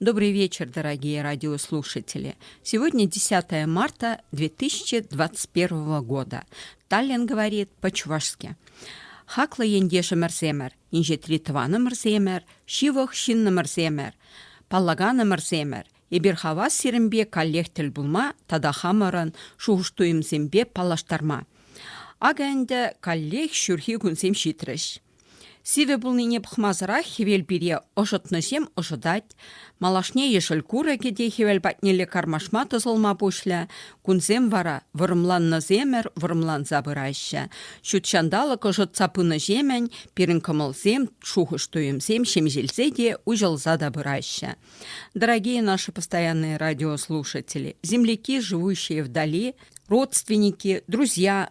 Добрый вечер, дорогие радиослушатели! Сегодня 10 марта 2021 года. Таллин говорит по-чувашски. Хаклӑ ентешӗмӗрсемӗр, инҫетри тӑванӑмӑрсемӗр, ҫывӑх ҫыннӑмӑрсемӗр, паллаканӑмӑрсемӗр, эпир хавас сирӗнпе каллех тӗл пулма тата хамӑрӑн шухӑш-туйӑмсемпе паллаштарма. Акӑ ӗнтӗ каллех ҫурхи кунсем ҫитрӗҫ. Сивӗ пулнине пӑхмасӑрах хӗвел пире ӑшӑтнӑҫем ӑшӑтать. Малашне ешӗл курӑкӗ те хӗвел патнелле кармашма тӑсӑлма пуҫлӗ. Кунсем вара вӑрӑмланнӑсемӗр вӑрӑмланса пыраҫҫӗ. Ҫут ҫанталӑк ӑшӑтса пынӑҫемӗн пирӗн кӑмӑлсем, шухӑш-туйӑмсем ҫемҫелсе те, уҫӑлса та пыраҫҫӗ. Дорогие наши постоянные радиослушатели, земляки, живущие вдали, родственники, друзья,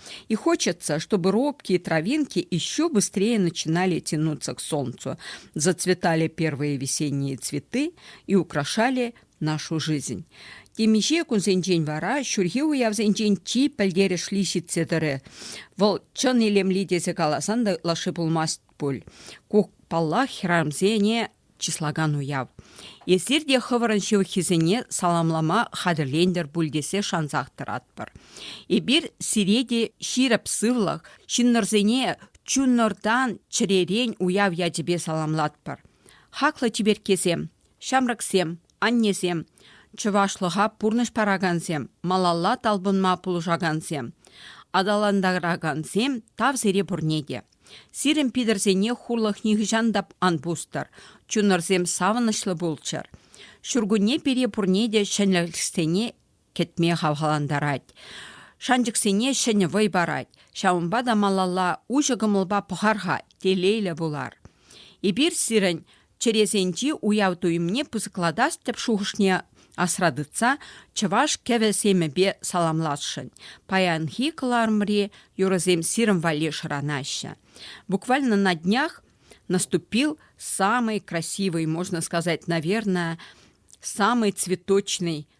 И хочется, чтобы робкие травинки еще быстрее начинали тянуться к солнцу, зацветали первые весенние цветы и украшали нашу жизнь. Темиҫе кунсенчен вара ҫурхи уявсенчен чи пӗлтерӗшли ҫитсе тӑрӗ. Вӑл чӑн илемли тесе каласан та ытлашши пулмасть пуль. Ку, паллах, хӗрарӑмсене чыслакан уяв. Эсир те хӑвӑрӑн ҫывӑххисене саламлама хатӗрлентӗр пуль тесе шансах тӑратпӑр. Эпир сире те ҫирӗп сывлӑх, ҫыннӑрсене чунӑртан, чӗререн уяв ячӗпе саламлатпӑр. Хаклӑ чиперккесем, ҫамрӑксем, аннесем, чӑвашлӑха пурнӑҫ паракансем, малалла талпӑнма пулӑшакансем, аталантаракансем тав сире пурне те. Сирӗн Питӗрсене хурлӑх нихӑҫан та ан пустӑр, чунӑрсем савӑнӑҫлӑ пулччӑр. Ҫуркунне пире пурне те ҫӗнӗлӗхсене кӗтме хавхалантарать. Шанчӑксене ҫӗнӗ вӑй парать. Ҫавӑнпа та малалла уҫӑ кӑмӑлпа пӑхар-ха, телейлӗ пулар. Эпир сирӗн Чӗресенчи уяв туйӑмне пысӑклатас тӗп шухӑшне асра тытса чӑваш кӗвӗ-семӗпе саламласшӑн. Паянхи кӑларӑмри юрӑсем сирӗн валли шӑранаҫҫӗ. Буквально на днях наступил самый красивый, можно сказать, наверное, самый цветочный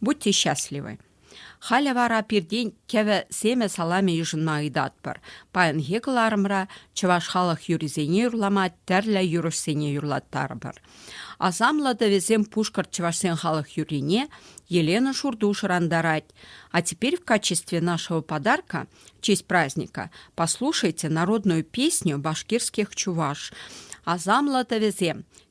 Будьте счастливы. Халӗ вара пиртен кӗвӗ семӗ саламӗ йышӑнма ыйтатпӑр. Паянхи кӑларӑмра чӑваш халӑх юррисене юрлама тӗрлӗ юрӑҫсене юрлаттарӑпӑр. Асамлӑ тӑвӗсем пушкӑрт чӑвашсен халӑх юррине Елена Шурту шӑрантарать. А теперь в качестве нашего подарка в честь праздника послушайте народную песню башкирских чуваш. Асамлӑ тӑвӗсем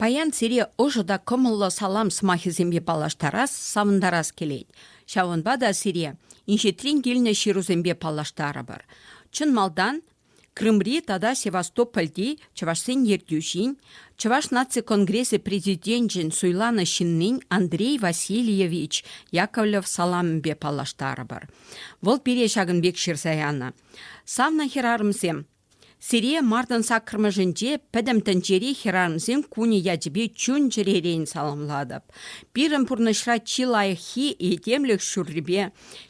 Паян сире ӑшӑ та кӑмӑллӑ салам сӑмахӗсемпе паллаштарас, савӑнтарас килет. Ҫавӑнпа та сире инҫетрен килнӗ ҫырусемпе паллаштарӑпӑр. Чӑн малтан Крымри тата Севастопольти чӑвашсен ертӳҫин, Чӑваш наци конгресӗ президенчӗн суйланӑ ҫыннин Андрей Васильевич Яковлев саламӗпе паллаштарӑпӑр. Вӑл пире ҫакӑн пек ҫырса янӑ, Савнӑ хӗрарӑмсем! Сире мартӑн саккӑрмӗшӗнче Пӗтӗм тӗнчери хӗрарӑмсен кунӗ ячӗпе чун-чӗререн саламлатӑп. Пирӗн пурнӑҫра чи лайӑххи этемлӗх ҫуррипе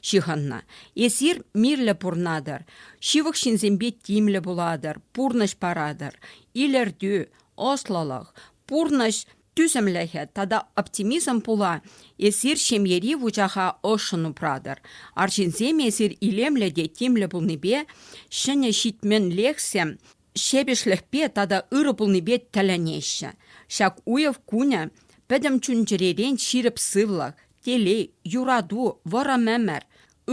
ҫыхӑннӑ. Эсир мирлӗ пурӑнатӑр. Ҫывӑх ҫынсемпе тимлӗ пулатӑр, пурнӑҫ паратӑр. Илӗртӳ, ӑслӑлӑх, пурнӑҫ, тӳсӗмлӗхӗ тата оптимизм пула эсир ҫемьери вучаха ӑшшӑн упратӑр. Арҫынсем эсир илемлӗ те тимлӗ пулнипе, ҫӗнӗ ҫитменлӗхсем ҫепӗҫлӗхпе тата ырӑ пулнипе тӗлӗнеҫҫӗ. Ҫак уяв кунӗ пӗтӗм чун-чӗререн ҫирӗп сывлӑх, телей, юрату, вӑрӑм ӗмӗр,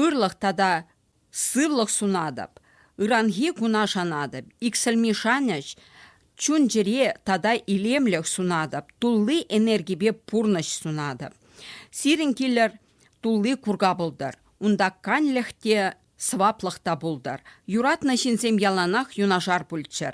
ырлӑх тата Сывлӑх сунатӑп, ыранхи куна шанатӑп, иксӗлми шанӑҫ, чун-чӗре тата илемлӗх сунатӑп, тулли энергипе пурнӑҫ сунатӑп. Сирӗн килӗр тулли курка пултӑр, унта канлӗх те, сӑваплӑх та пултӑр. Юратнӑ ҫынсем яланах юнашар пулччӑр,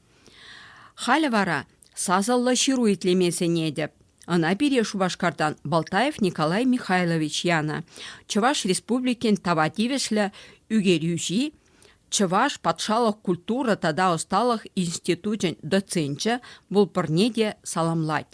Халӗ вара сасӑллӑ ҫыру итлеме сӗнетӗп. Ӑна пире Шупашкартан Балтаев Николай Михайлович янӑ. Чӑваш Республикин тава тивӗҫлӗ ӳкерӳҫи, Чӑваш патшалӑх культура тата ӑсталӑх институчӗн доценчӗ, вулпӑрне те саламлать.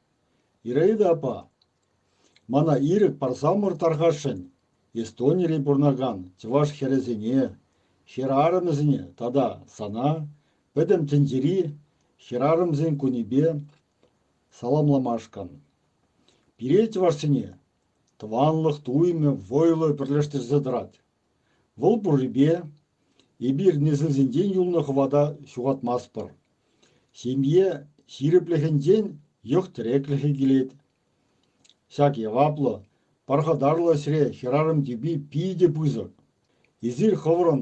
Ираида апа, мана ирӗк парсамӑр тархасшӑн, Эстонире пурӑнакан чӑваш хӗрӗсене, хӗрарӑмӗсене тата сана Пӗтӗм тӗнчери хӗрарӑмсен кунӗпе саламламашкӑн. Пире, чӑвашсене, тӑванлӑх туйӑмӗ вӑйлӑ пӗрлештерсе тӑрать. Вӑл пуррипе эпир несӗлсенчен юлнӑ хӑвата ҫухатмастпӑр. Ҫемье ҫирӗплӗхӗнчен йӑх-тӗреклӗхӗ килет. Ҫак яваплӑ, пархатарлӑ ӗҫре хӗрарӑм тӳпи питӗ пысӑк. Эсир хӑвӑрӑн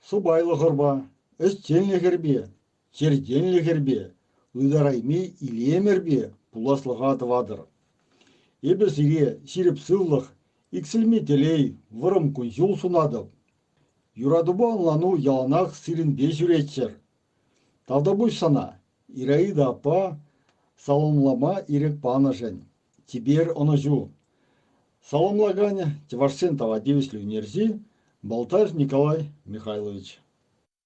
сӑпайлӑхӑрпа, ӗҫченлӗхӗрпе, чӗркенлӗхӗрпе, ытарайми илемӗрпе пуласлӑха тӑватӑр. Эпӗ сире ҫирӗп сывлӑх, иксӗлми телей, вӑрӑм кун-ҫул сунатӑп. Юратупа ӑнлану яланах сирӗнпе ҫӳреччӗр. Тавтапуҫ сана, Ираида аппа, саламлама ирӗк панӑшӗн. Типер ӑнӑҫу. Саламлакан чӑвашсен тава тивӗҫлӗ ӳнерҫи Балтаев Николай Михайлович.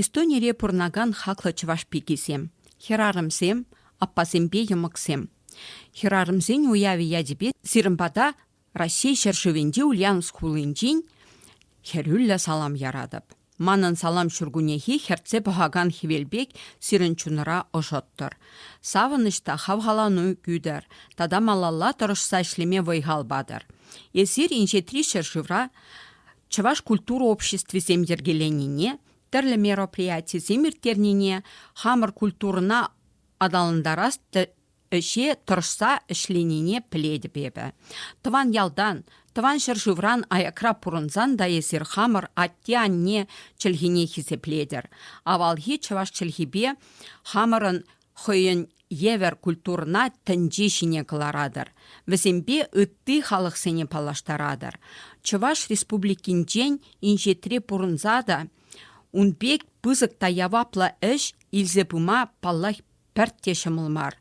Эстонире пурӑнакан хаклӑ чӑваш пикисем, хӗрарӑмсем, аппасемпе йӑмӑксем. Хӗрарӑмсен уявӗ ячӗпе сирӗн пата Раҫҫей ҫӗршывӗнчи Ульяновск хулинчен хӗрӳллӗ салам яратӑп. Манӑн салам ҫуркуннехи хӗртсе пӑхакан хӗвел пек сирӗн чунӑра ӑшӑттӑр. Савӑнӑҫ та хавхалану кӳтӗр тата малалла тӑрӑшса ӗҫлеме вӑй-хал патӑр. Эсир Инҫетри ҫӗршывра Чӑваш культура обществисем йӗркеленине, тӗрлӗ мероприятисем ирттернине, хамӑр культурӑна аталантарас ӗҫе тӑрӑшса ӗҫленине пӗлетӗп эпӗ. Тӑван ялтан, тӑван ҫӗршывран аякра пурӑнсан та эсир хамӑр атте-анне чӗлхине хисеплетӗр. Авалхи чӑваш чӗлхипе хамӑрӑн хӑйӗн евӗр культурӑна тӗнче ҫине кӑларатӑр, вӗсемпе ытти халӑхсене паллаштаратӑр. Чӑваш Республикинчен инҫетре пурӑнса та ун пек пысӑк та яваплӑ ӗҫ илсе пыма, паллах, пӗртте ҫӑмӑл мар.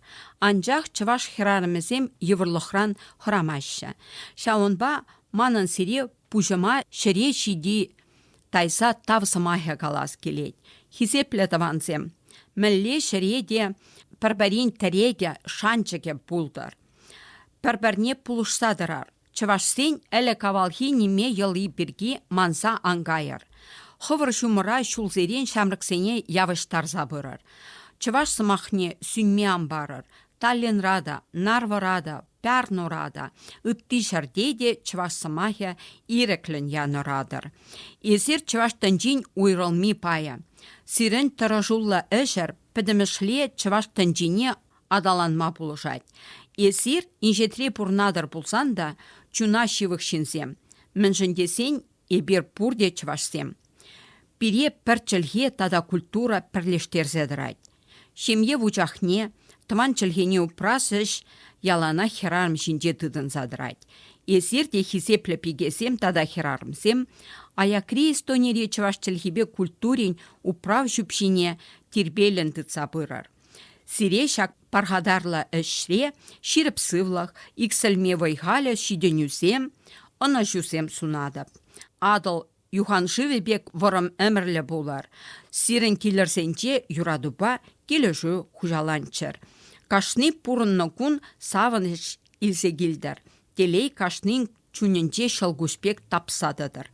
Анчах чӑваш хӗрарӑмӗсем йывӑрлӑхран хӑрамаҫҫӗ. Ҫавӑнпа манӑн сире пуҫӑма ҫӗре ҫити Тайса тав сӑмахӗ калас килет, хисеплӗ тӑвансем! Мӗнле ҫӗре те пӗр-пӗрин тӗрекӗ, шанчӑкӗ пултӑр. Пӗр-пӗрне пулӑшса тӑрар. Чӑвашсен ӗлӗк-авалхи ниме йӑли пирки манса ан кайӑр. Хӑвӑр ҫумӑра ҫулсерен ҫамрӑксене явӑҫтарса пырӑр. Чӑваш сӑмахне сӳнме ан парӑр, Таллинра та, Нарвӑра та, Пярнура та, ытти ҫӗрте те чӑваш сӑмахӗ ирӗклӗн янӑратӑр. Эсир чӑваш тӗнчин уйрӑлми пайӗ. Сирӗн тӑрӑшуллӑ ӗҫӗр пӗтӗмӗшле чӑваш тӗнчине аталанма пулӑшать. Эсир инҫетре пурӑнатӑр пулсан та чуна ҫывӑх ҫынсем, мӗншӗн тесен эпир пурте чӑвашсем. Пире пӗр чӗлхе тата культура пӗрлештерсе тӑрать. Ҫемье вучахне, тӑван чӗлхене упрас ӗҫ яланах хӗрарӑм ҫинче тытӑнса тӑрать. Эсир те хисеплӗ пикесем тата хӗрарӑмсем, аякри Эстонири чӑваш чӗлхипе культурин управ ҫӳпҫине тирпейлӗн тытса пырӑр. Сире ҫак пархатарлӑ ӗҫре ҫирӗп сывлӑх, иксӗлми вӑй-халӗ, ҫитӗнӳсем, ӑнӑҫусем сунатӑп. Атӑл Юханшывӗ пек вӑрӑм ӗмӗрлӗ пулар. Сирӗн килӗрсенче юратупа килӗшӳ хуҫаланччӑр. Кашни пурӑннӑ кун савӑнӑҫ илсе килтӗр. Телей кашнин чунӗнче ҫӑлкуҫ пек тапса тӑтӑр.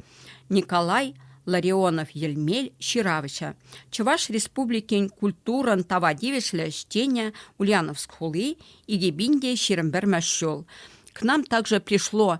Николай Ларионов-Йӗлмел ҫыравҫӑ, Чӑваш Республикин культурӑн тава тивӗҫлӗ ӗҫченӗ Ульяновск хули, Игебинде ҫирӗм пӗрмӗш ҫул. К нам также пришло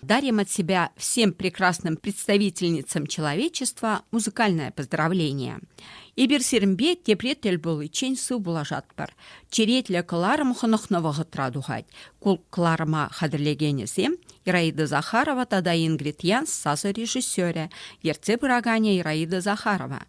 дарим от себя всем прекрасным представительницам человечества музыкальное поздравление. Эпир сирӗнпе тепре тӗл пуличчен сыв пулашатпӑр. Черетлӗ кӑларӑм хӑнӑхнӑ вӑхӑтра тухать. Ку кӑларӑма хатӗрлекенӗсем Ираида Захарова тата Ингрид Янс сасӑ режиссерӗ, ертсе пыраканӗ Ираида Захарова.